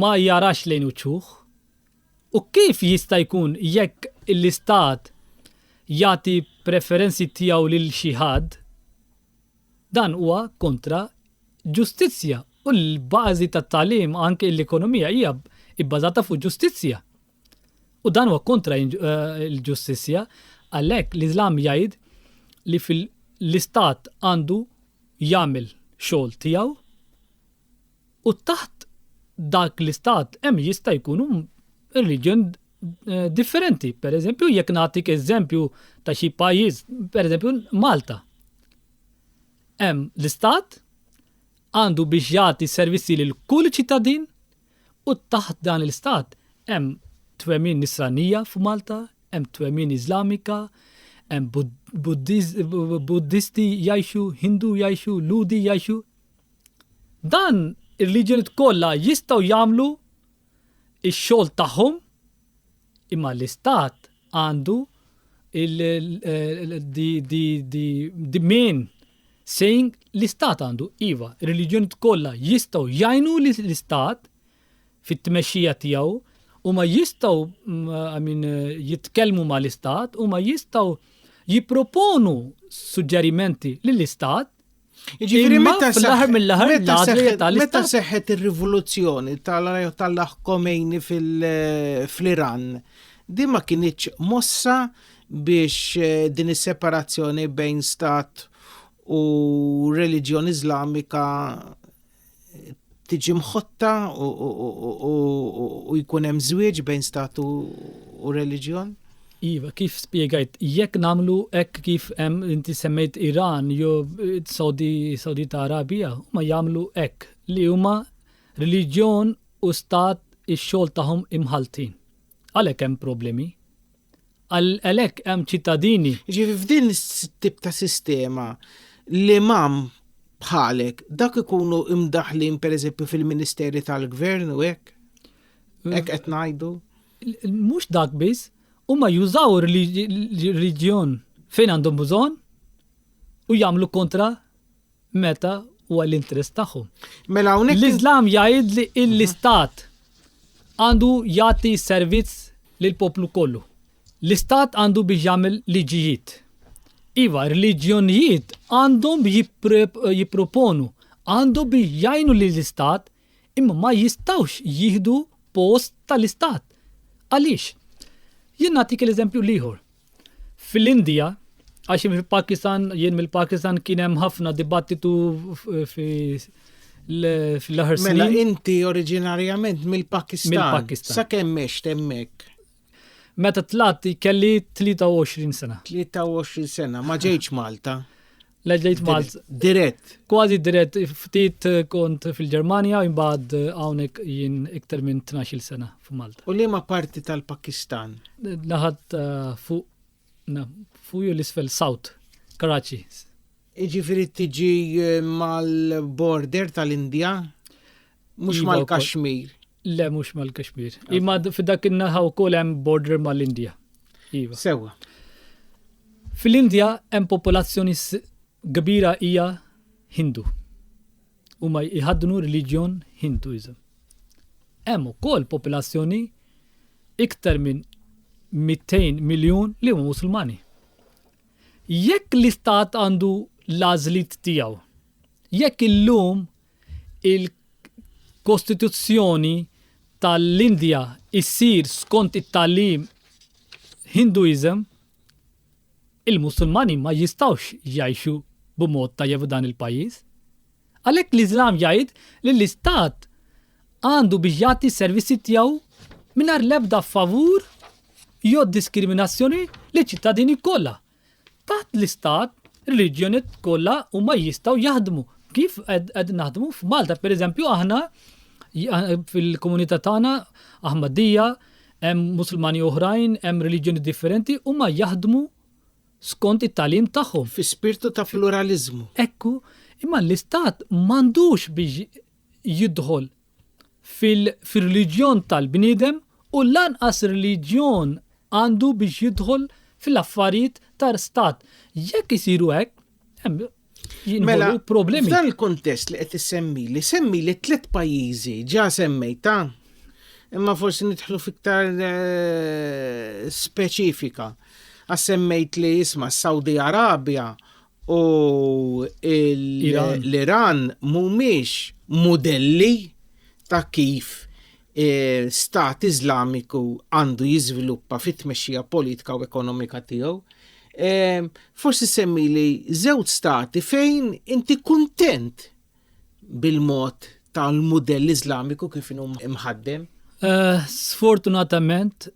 ma jarax lejn uċuħ. U kif jista' jkun jekk l-istat jagħti preferenzi tiegħu lil xi ħadd Dan huwa kontra ġustizzja u l-bażi tat-tagħlim anke l-ekonomija hija bbażata fuq ġustizzja. U dan huwa kontra l-ġustizzja għalhekk l-Iżlam jgħid li fil l-istat għandu jagħmel xogħol tiegħu u taħt dak l-istat hemm jista' jkunu reliġjon differenti. Per eżempju, jekk nagħtik eżempju ta' xi pajjiż, per eżempju Malta. Hemm l-istat għandu biex jagħti servizzi lil kull ċittadin u taħt dan l-istat hemm twemmin nisranija f'Malta, hemm twemmin Iżlamika, hemm Buddisti jgħixu, Hindu jgħixu, Lhudi jgħixu. Dan ir-reġjuniet kollha jistgħu jagħmlu x-xogħol tagħhom imma l-istat għandu the main saying l-istat għandu iva r-reġjuniet kollha jistgħu jgħinu lill-istat fit-tmexxija tiegħu huma jistgħu i mean jitkellmu mal-istat huma jistgħu jipproponu suġġerimenti lill-istat. Ġifieri meta l-aħħar mill-aħħar meta seħħet ir-rivoluzzjoni tal-aħ Komejni fl-Iran, din ma kinitx mossa biex eh, din is-separazzjoni bejn stat u reliġjon Iżlamika tiġi mħotta u jkun hemm żwieġ bejn statu u reliġjon? Iva, kif spiegajt, jekk namlu hekk kif hemm inti semmejt Iran jew eh, Saudi Saudi ta' Arabija, ma jagħmlu hekk li huma reliġjon u stat ix-xogħol tagħhom imħaltin. Għalhekk hemm problemi. Għalhekk hemm ċittadini. Jiġifieri f'din it-tip ta' sistema l-imam bħalek dak ikunu imdaħlin pereżempju fil-Ministeri tal-Gvern u hekk? Hekk qed ngħidu? Mhux dak biss, huma jużaw ir-reliġjon fejn għandhom bżonn u jagħmlu kontra meta huwa l-interess tagħhom. Mela hawnhekk. L-Iżlam jgħidli l-istat għandu jagħti servizz lill poplu kollu. L-istat għandu biex jagħmel liġijiet. Iva, reliġjonijiet għandhom jipproponu, għandhom biex jgħinu lill istat imma ma jistawx jihdu post tal-istat. Għaliex? Jien nagħtik l-eżempju liħor. Fil-Indija, għax fil-Pakistan, jien mill-Pakistan kien hemm ħafna dibattitu fi fl-aħħar snin. Mela inti oriġinarjament mill-Pakistan. Mill-Pakistan. Sa kemm mext hemmhekk? Meta tlat kelli 23 sena. 23 sena, ma ġejtx Malta. Leġejt Malta. Dirett. Kważi dirett, ftit eh, kont fil-Ġermanja, imbagħad eh, hawnhekk jien iktar minn 12 sena f'Malta. U liema parti tal-Pakistan? Naħat eh, fuq fuq l-isfel South, Karachi. Iġifieri tiġi mal-border tal-Indja, mhux iva, mal-Kashmir. Le, mhux mal-Kashmir. Imma f'dak in-naħa wkoll hemm border mal-Indja. Iva. Sewwa. Fil-Indja hemm popolazzjoni kbira hija Hindu. Huma jħaddnu reliġjon Hinduizm. Hemm ukoll popolazzjoni iktar minn 200 miljun li huma Musulmani. Jekk l-istat għandu l-għażlit tiegħu, jekk illum il-kostituzzjoni tal-Indja issir skont it-tagħlim Hinduism, il-Musulmani ma jistgħux jgħixu b'mod tajjeb f'dan il-pajjiż. Għalhekk l-Iżlam jgħid li l-Istat għandu biex jagħti s-servizzi tiegħu mingħajr l-ebda favur jew diskriminazzjoni liċ-ċittadini kollha, Taħt l-istat, reliġjoniet kollha huma jistgħu jaħdmu. Kif qed naħdmu f'Malta, pereżempju aħna fil-komunità tagħna Aħmadija, hemm Musulmani oħrajn, hemm reliġjoni differenti huma jaħdmu skont it-talim tagħhom. Fi spirtu ta' pluralizmu. Ekku, imma l-istat m'għandux biex jidħol fir-reliġjon tal-bniedem u lanqas reliġjon għandu biex jidħol fl-affarijiet ta' stat. Jekk isiru hekk, mela problemi. F'dan il-kontest li qed issemmi li semmi li tliet pajjiżi ġa semmejta, imma forsi nidħlu fiktar eh, speċifika. Għas semmejt li jisma' Saudi Arabia u l-Iran mhumiex mudelli ta' kif eh, stat Iżlamiku għandu jiżviluppa fit-tmexxija politika u ekonomika tiegħu. Eh, forsi semmi li żewġ stati fejn inti kuntent bil-mod tal-mudell Iżlamiku kif inhu mħaddem? Eh, sfortunatament.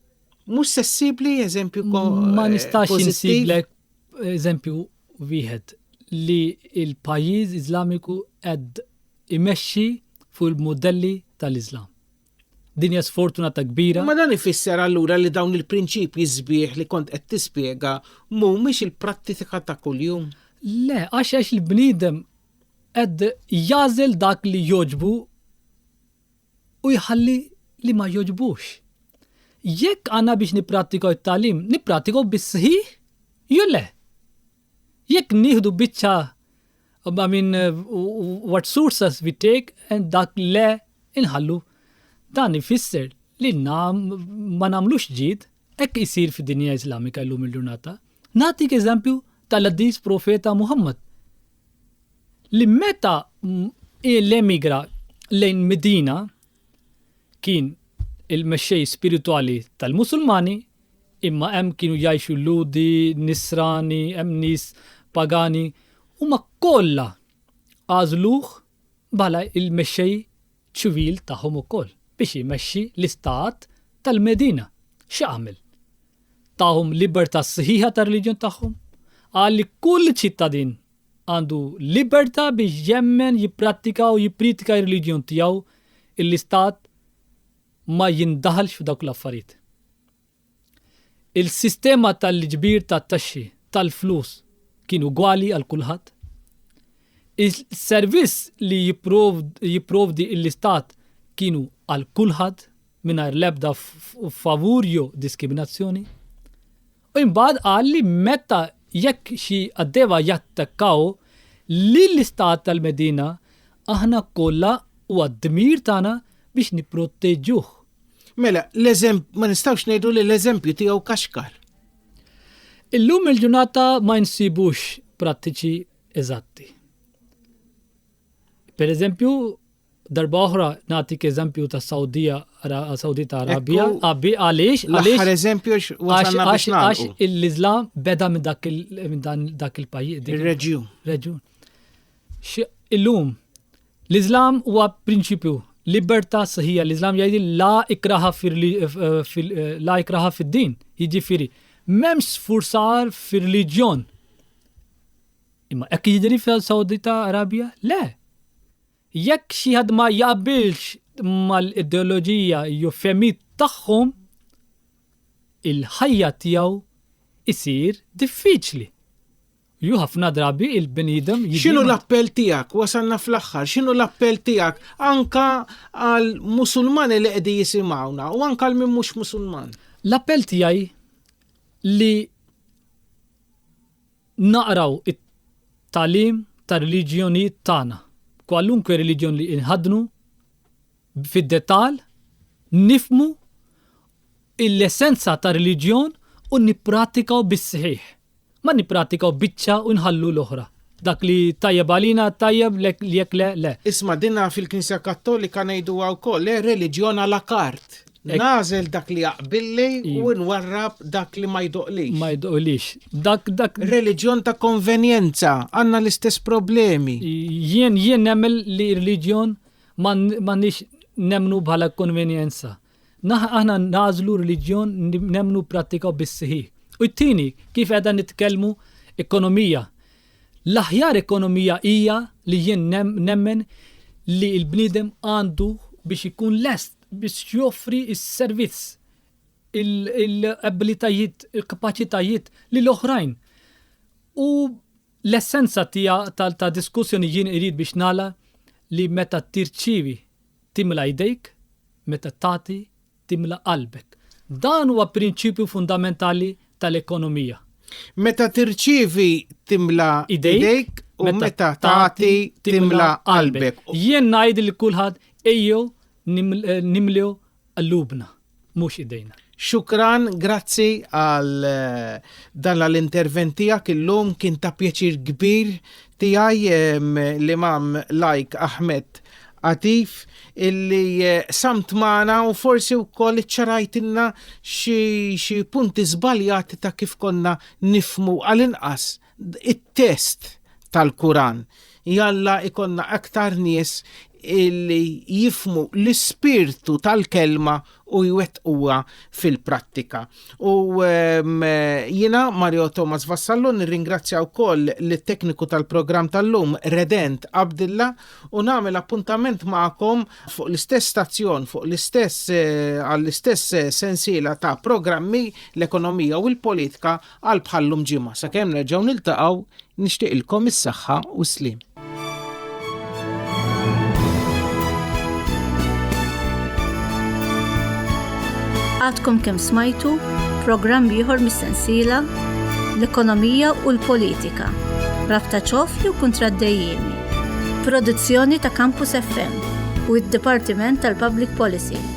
Mhux sessibli, eżempju, ma eh, nistax insiblek eżempju wieħed li l-pajjiż Iżlamiku qed imexxi fuq il-mudelli tal-Iżlam. Din hija sfortunata kbira. Imma dan ifisser allura li dawn il-prinċipji sbieħ li kont qed tispjega mhumiex il-prattika ta' kuljum? Le, għax għax il-bniedem qed jażel dak li jogħġbu u jħalli li ma jogħġbux. Jekk għandna biex nipprattikaw it-tagħlim, nipprattikaw bis-sħiħ jew le? Jekk nieħdu biċċa I mean, what sources we take and dak le inħallu. Dan ifisser li nam ma namlux ġid, ekk isir fi dinja islamika l-lum il-ġurnata. Natik eżempju tal-Addis Profeta Muhammad. li meta l-emigra lejn Medina kien il-mexxej spiritwali tal-Musulmani imma hemm kienu jgħixu Lhudi, Nisrani, hemm nies pagani, huma kollha għażluh bħala l-mexxej ċivil tagħhom ukoll biex imexxi l-istat tal-Medina. X'għamel? Tahom libertà sħiħa tar-reliġjon tagħhom. Qal li kull ċittadin għandu libertà biex jemmen, jipprattika u jippritika r-reliġjon tiegħu, l-istat ma jindaħalx f'dawk l-affarijiet. Il-sistema tal-iġbir tat-taxxi tal-flus kien ugwali għal kulħadd. Is-servizz li jipprovdi l-Istat kienu għal kulħadd mingħajr l-ebda favur jew diskriminazzjoni. U imbagħad qal li meta jekk xi qaddejba jattakkaw lill-Istat tal-Medina, aħna kollha huwa d-dmir tagħna biex nipproteġuh. Mela, ma nistawx ngħidu li l-eżempju tiegħu kaxkar. Illum il-ġurnata ma nsibux prattiċi eżatti. Per eżempju, darba oħra natik eżempju ta' Saudija Saudita Arabija, għabbi għaliex għaliex eżempju għax l-Islam beda minn dak il-pajjiż. Il-reġjun. Reġjun. Illum L-Iżlam huwa prinċipju, libertà sħiħa. L-Iżlam jgħid la ikraha la ikraha fid-din, jiġifieri m'hemmx sfurzar fir-reliġjon. Imma hekk jidri fil-Sawdita Arabja? Le. Jekk xi ħadd ma jaqbilx mal-ideoloġija jew femit tagħhom, il-ħajja tiegħu isir diffiċli. Ju ħafna drabi il-bniedem X'inhu l-appell tiegħek? Wasalna fl-aħħar. X'inhu l-appell tiegħek anka għal Musulmani li qegħdi jisimgħuna u anka għal min mhux Musulman? L-appell tiegħi li naqraw it-talim tar-reliġjonijiet tagħna, kwalunkwe reliġjon li inħadnu, fid-dettall, nifhmu l-essenza tar-reliġjon u nippratikaw bis-sħiħ. Ma nippratikaw biċċa u nħallu l-oħra. Dak li tajjeb għalina tajjeb jekk le le. Isma' dinha fil-Knisja Kattolika ngħiduha wkoll, le reliġjon à la carte. Nagħżel dak li jaqbilli u nwarrab dak li ma jdoqlix. Ma jdoqlix. Dak dak. Reliġjon ta' konvenjenza, għandna l-istess problemi. Jien jien nemmel li reliġjon M'għandniex nemmnu bħala konvenjenza. Aħna nagħżlu reliġjon nemmnu prattika bis-sħiħ. U t-tieni, kif qiegħda nitkellmu ekonomija. L-aħjar ekonomija hija li jien nemmen li l-bniedem għandu biex ikun lest biex joffri s-servizz, il-abilitajiet, il-kapaċitajiet lil oħrajn. U L-essenza tiegħu ta' ta' diskussjoni jien irid biex nagħlaq li meta tirċievi timla' jdejk, meta tagħti timla' qalbek. Dan huwa prinċipju fundamentali tal-ekonomija. Meta tirċievi timla' jdejk u meta tagħti timla' qalbek. Jien ngħid lil kulħadd ejjew nimlew Qlubna, mhux idejna. Xukran, grazzi għal dan l-intervent tiegħek illum kien ta' pjaċir kbir tiegħi l-Imam Lajk Ahmed Atif illi samt magħna u forsi wkoll iċċarajtilna xi punti żbaljati ta' kif konna nifmu għal-inqas it-test tal-Kuran. Jalla ikonna aktar nies illi jifmu l-ispirtu tal-kelma u jwettquha fil-prattika. U ehm, jina Mario Thomas Vassallo nirringrazzja wkoll lit-tekniku tal-programm tal-lum Redent Abdilla u nagħmel appuntament magħkom fuq l-istess stazzjon, fuq l-istess eh, għall-istess eh, sensiela ta' programmi l-ekonomija u l-politika Għal bħal-lum ġimgħa sakemm nerġgħu niltaqgħu nixtieqilkom is-saħħa u s-sliem. Għadkom kemm smajtu programm ieħor mis-sensiela l-ekonomija u l-politika, rabta ċofli u kontraddejjimi. Produzzjoni ta' Campus FM u id-Dipartiment tal-Public Policy.